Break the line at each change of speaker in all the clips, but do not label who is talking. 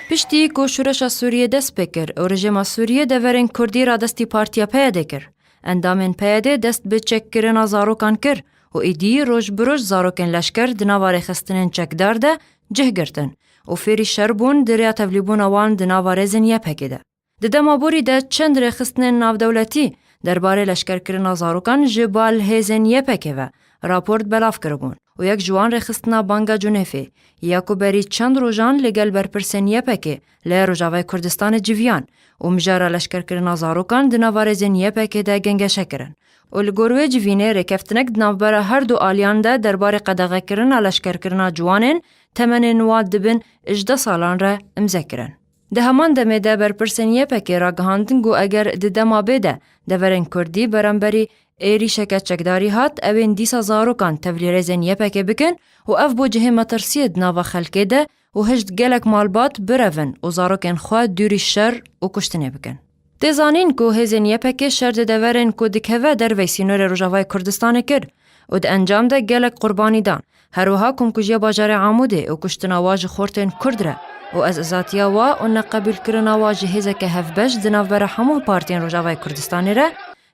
Piştî ku şûreşa Sûriyê dest pê kir û rejêma Sûriyê deverên Kurdî radestî Partiya PYD'ê kir, endamên PYD'ê dest bi çekkirina zarokan kir û êdî roj bi roj zarokên leşker di nava rêxistinên çekdar de cih girtin û fêrî şer bûn di rêya tevlîbûna wan di nava rêzên YPG'ê de. Di dema borî de çend rêxistinên navdewletî derbarê leşkerkirina zarokan ji bal hêzên YPK'ê ve raport belav kiribûn û yek ji wan rêxistina Banga Cunêfê ye ku berî çend rojan li gel berpirsên YPK'ê li Rojavayê Kurdistanê civiyan û mijara leşkerkirina zarokan di nava rêzên YPK'ê de gengeşe kirin û li gor wê civînê rêkeftinek di navbera her du aliyan de derbarê qedexekirina leşkerkirina ciwanên temenên wan di bin ji deh salan re imze kirin. Di heman demê de berpirsên YPKê ragihandin ku eger di dema bê de deverên Kurdî beramberî êrîşeke çekdarî hat ew ên dîsa zarokan tevlîrêzên YPKê bikin û ev bo cihê metirsiyê di nava xelkê de û hişt gelek malbat birevin û zarokên xwe dûrî şer û kuştinê bikin. Tê zanîn ku hêzên YPK'ê şer di deverên ku dikeve dervey sînorê Rojavayê Kurdistanê kir û di encam de gelek qurbanî dan. Her wiha komkujiya bajarê Amûdê û kuştina wa ji xortên Kurd re û ez izatiya wa û neqebûlkirina wa ji hêzeke hevbeş di navbera hemû partiyên Rojavayê Kurdistanê re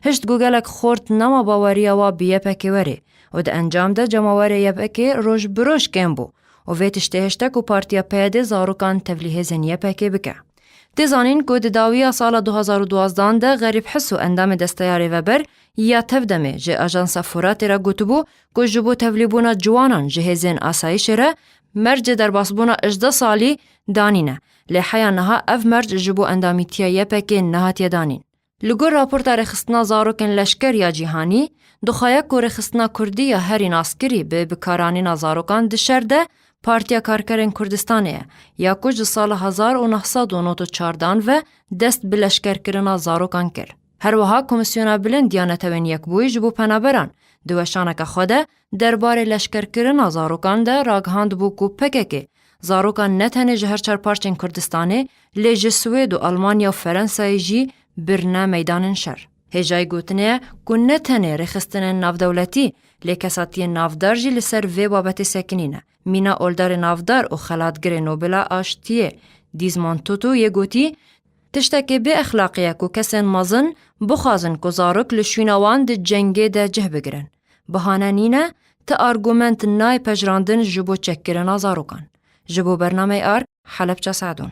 hişt ku gelek xort nema baweriya wa bi YPK'ê werê û di encam de cemawerê YPK'ê roj bi roj kêm bû û vê tiştê hişte ku partiya PYD'ê zarokan tevlî hêzên YPK'ê bike. Tê zanîn ku di dawiya sala du hezar û duwazdan de Xerîb Hiso endamê Desteya Rêveber ya Tevdemê ji Ajansa Furatê re gotibû ku ji bo tevlîbûna ciwanan ji hêzên asayîşê re mercê derbasbûna ejdeh salî danîne lê heya niha ev merc ji bo endamîtiya YPK'ê nehatiye danîn. Li gor raporta rêxistina zarokên leşker ya cîhanî, dixwaye ku rêxistina kurdî ya herî naskirî bi bikaranîna zarokan di şer de Partiya Karkerên Kurdistanê ye, ya ku ji sala hezar û neh sed û nod û çardan ve dest bi leşkerkirina zarokan kir. Her wiha Komîsyona Bilind ya Netewên Yekbûyî ji bo Penaberan di weşaneke xwe de Derbarê leşkerkirina zarokan de ragihandibû ku pkk zarokan ne tenê ji her çar parçên Kurdistanê lê ji Swêd û Almanya û Ferensayê jî birine meydanên şer. Hêjayî gotinê ye ku ne tenê rêxistinên navdewletî lê kesatiyên navdar jî li ser vê babetê sekinî ne. Mîna oldarê navdar û xelatgirê Nobela Aştiyê Dîzmond Tutu yê gotî, Tiştekî bê exlaqî ye ku kesên mezin bixwazin ku zarok li şwîna wan di cengê de cih bigirin. Bihane nîne, ti argument nayê pejirandin ji bo çekkirina zarokan. Ji bo bernameyê arg, Helepça Seedon.